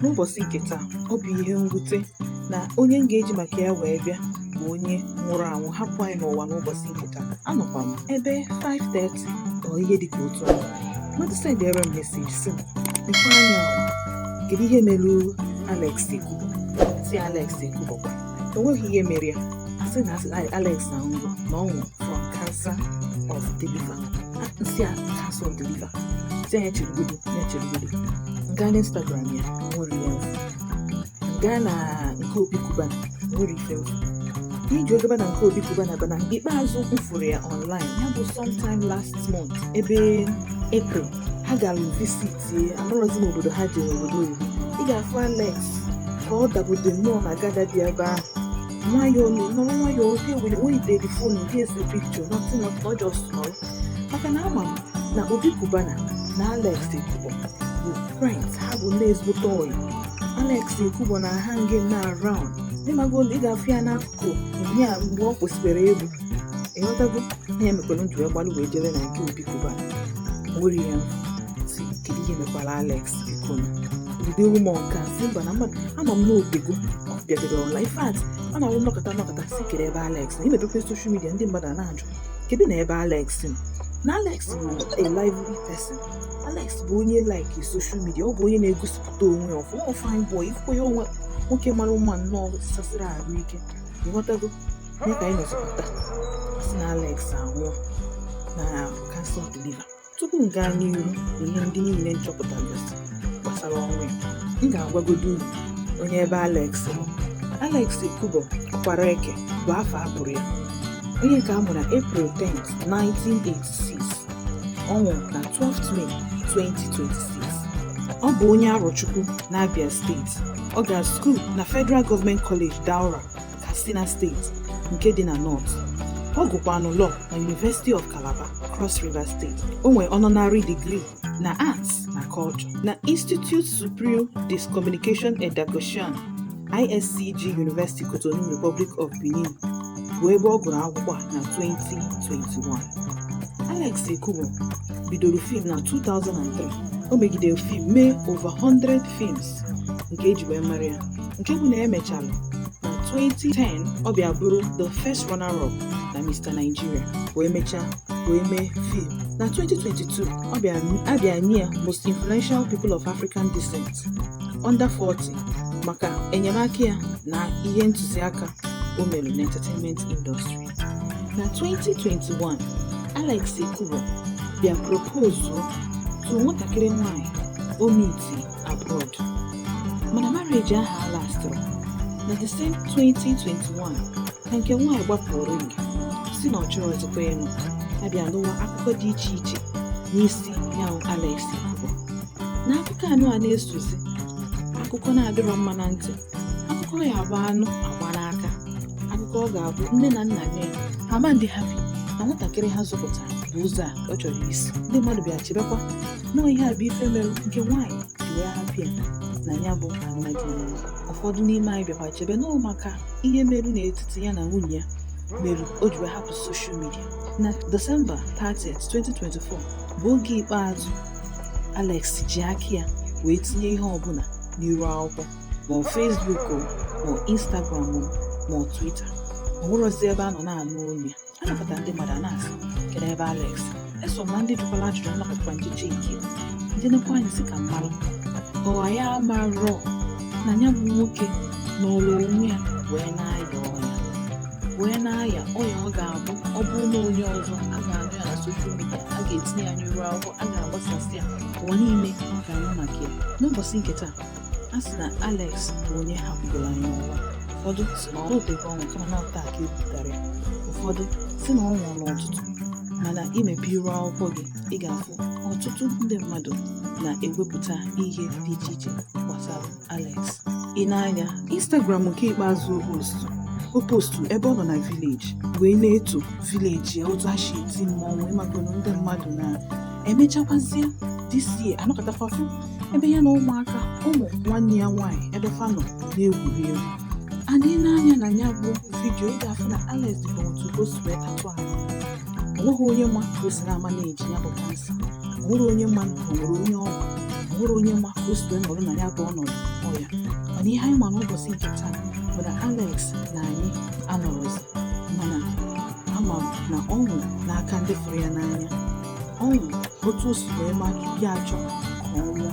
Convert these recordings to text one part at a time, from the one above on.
N'ụbọchị nke taa, ọ bụ ihe mwute na onye m ga-eji maka ya wee bịa bụ onye nwụrụ anwụ hapụ anyị n'ụwa n'ụbọchị nke taa. Anọkwa m ebe 5:30 or ihe dịka otu ahụ. Mmadụ sendịara m meseji sị m, "Lekwa anya o, kedu ihe mere Alex Ekubo?" Sị Alex Ekubo kwa. o nweghị ihe mere ya asị na asị Alex nwụrụ na ọ nwụrụ from cancer of the liver m sị ah cancer of the liver sị onye ahụ cherugodo ya cherugodo m gaa na Instagram ya o nwerọ ife m fụ m gaa na nke Obi Cubana o nwerọ ife m fụ ife m ji gaba na nke Obi Cubana bụ na nke ikpeazụ m fụrụ ya online ya bụ sometime last month ebe April ha gara visit tie amarọzi m obodo ha jere obodo oyibo ị ga-afụ Alex ka ọ dabude nnọọ na gada dị ebe ahụ nwayọọ na nọrọ nwayọọ oge were oyideri fon gị ese pikchọ nọtụ na ọ jọs nọrọ maka na ama m na Obi Cubana na alex ekubo bụ friends ha bụ ndị ezigbote ọyị alex ekubo na-ahang around ịmago na ị ga-afụ ya na bụ ihe a mgbe ọ kwụsịbere egwu ịghọtago ihe mekwara m ji wee gbalụ wee jere na nke Obi Cubana wee na-asị kedu ihe mekwara alex biko na bido ewu m nke a si mba na mmadụ ama m na o teego ọ bịadoro ọla ife at ọ na-awụ nnọkọta nnọkọta sị kee ebe alex nọ i mepekwa soshal midia ndị mmadụ ana-ajụ kedu na ebe alex nọ na alex bụ a lively person alex bụ onye like soshal midia ọ bụ onye na-egosipụta too onwe ya ọfụma fine boy ị fụkwa ya onwe nwoke mara mma nnọọ gbasiri arụ ike ịghọtago mee ka anyị nọzọpụta si na Alex anwụọ na cancer of the liver tupu m gaa n'iru ihe ndị niile m chọpụtagasị gbasara ọnwụ ya m ga-agwagodo unu onye bụ Alex Alex Ekubo Okwaraeke bụ afa ya onye nke a mụrụ April 10, 1986 Ọ nwụrụ na 12 May 2026. Ọ bụ onye Arochukwu n'Abia steeti. Ọ gara skuul na Federal Government College Daura, Katsina steeti nke dị na North. Ọ gụkwanụ Law na University of Calabar, Cross River State. O nwere honorary degree na Arts na Culture na Institut Supérieur de Communication et de Gestion ISCG University Cotonou Republic of Benin bụ ebe ọ gụrụ akwụkwọ a na 2021 Alex Ekubo bidoro fim na 2003 o megidere fim mee over 100 films nke e ji wee mara ya nke bụ na e mechara na 2010 ọ bịa bụrụ the first runner-up na Mr. Nigeria wee mechaa wee mee fim na 2022 a bịa nye ya most influential people of African descent Under 40 maka enyemaka ya na ihe ntụziaka o mere n'entertainment industry. Na 2021, Alex Ekubo bịa propozuo to nwatakịrị nwanyị o miti abroad mana marriage ahụ alastịrọ. Na the same 2021 ka nke nwanyị gbapụrụ ring sị na ọ chọrọzikwa ịnụ a bịa nụwa akụkọ dị iche iche n'isi ya bụ Alex Ekubo. na akụkọ anụ a na-esozi akụkọ na-adịrọ mma na ntị akụkọ ya-abụ a nụ a gbaa n'aka akụkọ ọ ga-abụ nne na nna nụ ya ha ama adị happy na nwatakịrị ha zụpụtara bụ ụzọ a ọ chọrọ isi ndị mmadụ bịa chebekwa na ihe a bụ ife mere nke nwaanyị ji wee hapụ ya na ya bụ alụmdi na nwunye ụfọdụ n'ime anyị bịakwa chebe na ọ maka ihe meru n'etiti ya na nwunye ya meru o ji wee hapụ soshal midia na December 30, 2024 bụ oge ikpeazụ Alex ji aka ya wee tinye ihe ọbụla n'iru akwụkwọ ma ọ Facebook o, ma ọ Instagram o, ma ọ Twitter o nwerọzi ebe a nọ na-anụ olu ya a nọkata ndị mmadụ a na-asị kedu ebe Alex eso m na ndị jụkwara ajụjụ a nọkatakwa nchichi nke ya. ndị nekwa anya sị ka m mara ọwa ya amarọ na ya bụ nwoke nọrọ onwe ya wee na-aya ọya wee na-aya ọya ọ ga-abụ ọ bụrụ na onye ọzọ a ga-anụ ya na soshal midia a ga-etinye ya n'iru akwụkwọ a ga-agbasasị ya ụwa niile ga-anụ maka ya n'ụbọchị nke taa a sị na Alex bụ onye hapụgoro anyị n'ụwa ụfọdụ sị na ọ dịghị ọnwụ kama na ọ taa ka e butara ya ụfọdụ sị na ọ nwụrụ n'ụtụtụ mana i mepee iru akwụkwọ gị ị ga-afụ ọtụtụ ndị mmadụ na-ewepụta ihe dị iche iche gbasara Alex ị nee anya Instagram nke ikpeazụ o postu o postu ebe ọ nọ na vileji wee na-eto vileji ya otu ha si eti mmọnwụ ị makwanụ ndị mmadụ na emechakwazie this year a nọkatakwa fụ ebe ya na ụmụaka ụmụ nwanne ya nwaanyị ebe fa nọ na-egwuri egwu adị n'anya na ya bụ vidiyo ị ga-afụ na Alex dịkwa otu o si wee tatụ ahụ o nweghị onye ma ka o si na-ama na-eji ya bụ kansa o nwerọ onye ma na o nwere onye ọ gwara o nwerọ onye ma ka o si wee nọrọ na ya bụ ọnọdụ ọya mana ihe anyị ma n'ụbọchị nke taa bụ na Alex na anyị anọrọzi mana ama m na ọ nwụrụ n'aka ndị fụrụ ya n'anya ọ nwụrụ otu o si wee ma ya achọ ka ọ nwụọ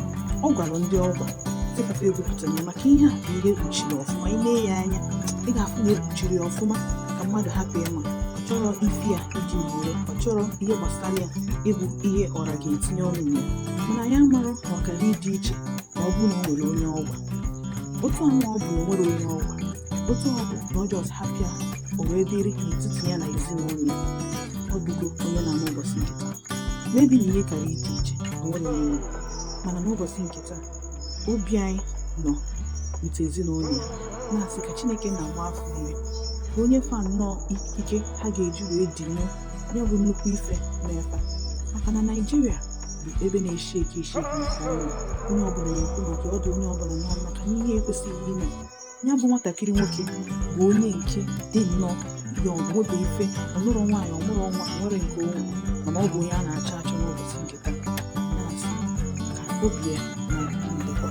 ọ gwara ndị ọ gwara ndị papa ekwupụtara ya maka ihe a bụ ihe e kpuchiri ọfụma ị nee ya anya ị ga-afụ na e kpuchiri ya ọfụma ka mmadụ hapụ ịma chọrọ isi ya iji were ọ chọrọ ihe gbasara ya ịbụ ihe ọra ga-etinye ọnụ na ya mana ya mara na ọ gara ịdị iche ma ọ bụrụ na o nwere onye ọ gwara otu ahụ ọ bụ na o nwere onye ọ gwara otu ọ bụ na ọ jọs hapụ ya o wee dịrị n'etiti ya na ezinụlọ ya ọ bụgo onye na-ama ụbọchị nke taa maybe na ihe gara ịdị iche o nwere onye ọ gwara mana n'ụbọchị nke taa obi anyị nọ otu ezinụlọ ya na-asị ka Chineke na-agba fa ume ka onye fa nnọọ ikike ha ga-eji wee die ya bụ nnukwu ife n'efe maka na Naịjirịa bụ ebe na-eshi ike esheki nke ọnụ onye ọbụla na-ekwu maka ọ dụ onye ọbụla n'ọnụ maka na ihe ekwesịghị ime ya bụ nwatakịrị nwoke bụ onye nke dị nnọọ ya ọgwụda ife ọ nụrụ nwaanyị ọ mụrụ nwa nwere nke onwe mana ọ bụ onye a na-achọ achọ n'ụbọchị nke taa na-asị ka obi ya na ndịkwa